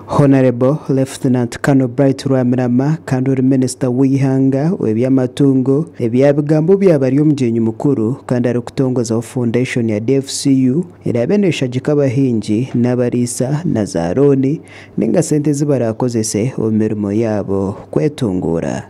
Honourable Lieutenant Colonel Bright Rwamirama kandi ori Minisita w'eihanga ow'eby'amatungo, ebya bigambo bya bari omugyenyi mukuru kandi arikutongozaho foundation ya DFCU eraabe neeshagika abahingi n'abariisa na za looni ninga sente ezi baraakozese omu mirimo yaabo kwetunguura.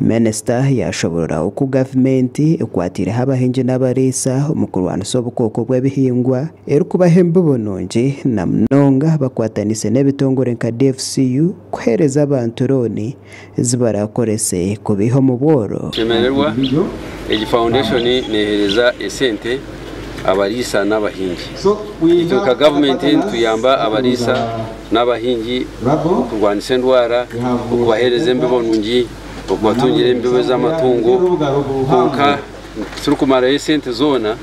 Minisita yaashoboorora oku gavumenti ekwatiireho abahingi n'abariisa omu kurwanisa obukooko bw'ebihingwa erikubaha embibo nungi na munonga bakwataniise n'ebitongore nka DFCU kuheereza abantu rooni ezi baraakorese kubaiha omu bworo. Kushemererwa, egi faundeshoni neeheereza esente abariisa n'abahingi. Itwe nka gavumenti nituyamba abariisa n'abahingi, okurwanisa endwara, okubaheereza embibo nungi, okubatungira embibo z'amatungo kwonka titurikumarayo esente zoona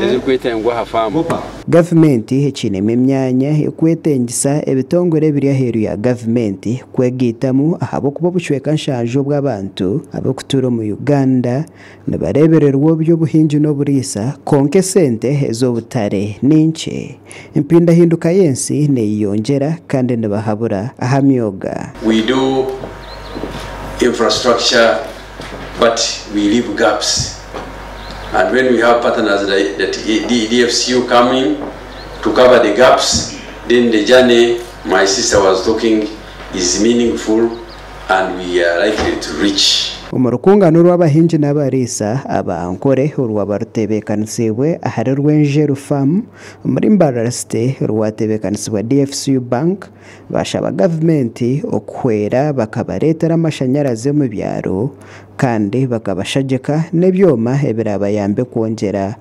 ezirikwetengwa aha faamu. Gavumenti ekiinemu emyanya erikwetengisa ebitongore ebiri aheeru ya gavumenti kwegaitamu ahabw'okuba obucweka nshanju obw'abantu abarikutuura omu Uganda Nibareebererwa oby'obuhingi n'oburiisa, kwonka esente ez'obutare ni nkye. Empindahinduka y'ensi neeyeyongyera kandi nibahabura aha myoga. We do infrastructure but we leave gaps and when we have partners that EDFCU come in to cover the gaps then the journey my sister was talking is meaningful. and we are likely to reach. Omu rukungana orw'abahingi n'abariisa aba Ankole orwaba rutebeekanisiibwe ahari Rwenjeru Farm omuri Mbarara City rwatebeekanisibwa dfcu Bank, baashaba gavumenti okuhwera bakabareetera amashanyarazi omu byaro kandi bakabashagyeka n'ebyoma ebiraabayambe kwongyera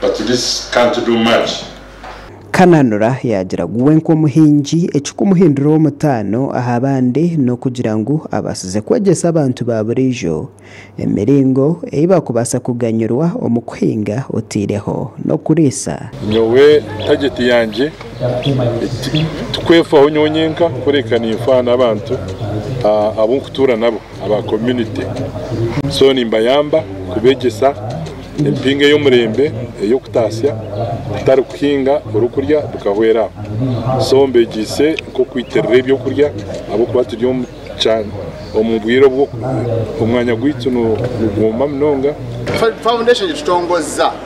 but this can't do much. Kananura yaagira ngu we nk'omuhingi ekikumuhinduraho omutaano aha bandi n'okugira ngu abaasize kwegyesa abantu ba buriijo emiringo ei baakubaasa kuganyirwa omu kuhinga otaireho n'okuriisa. Nyowe tageti yangye ti kwefaho nyowe nyenka kureka ninfaho n'abantu abu nkutuura nabo. aba community so nimbayamba kubegyesa empingo ey'omurembe ey'okutatsya kutari kuhinga oryokurya bikahwera aho so mbegyeise nk'okwitirira eby'okurya ahabw'okuba turi omu bwire obu omwanya gwaitu nigwoma munonga. Foundation etutongoza.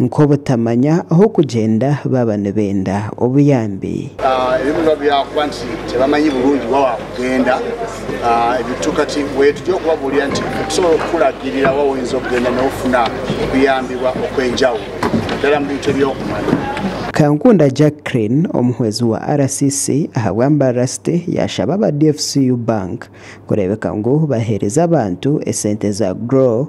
nk'obutamanya ah'okugyenda baaba nibenda obuyambi. Ebimwe nibiba biri ahakuba nti tibamanyi burungi waaba waakugenda. Ebitu kati weeye turi okubabuurira nti nitusobora kukuragirira waaba oyinza okugenda n'ofuna okuyambibwa okw'enjawulo naddala mu bintu eby'okumanya. Kankunda Jacqueline, omuhwezi wa RCC aha bwambarira City yaashaba aba dfcu Bank kureebeka ngu baheereze abantu esente za Grow,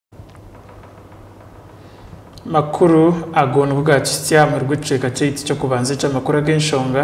Amakuru ago nigo gaakihitsya aha muheru gw'ekicweka kyaitu ky'okubanza eky'amakuru ag'enshonga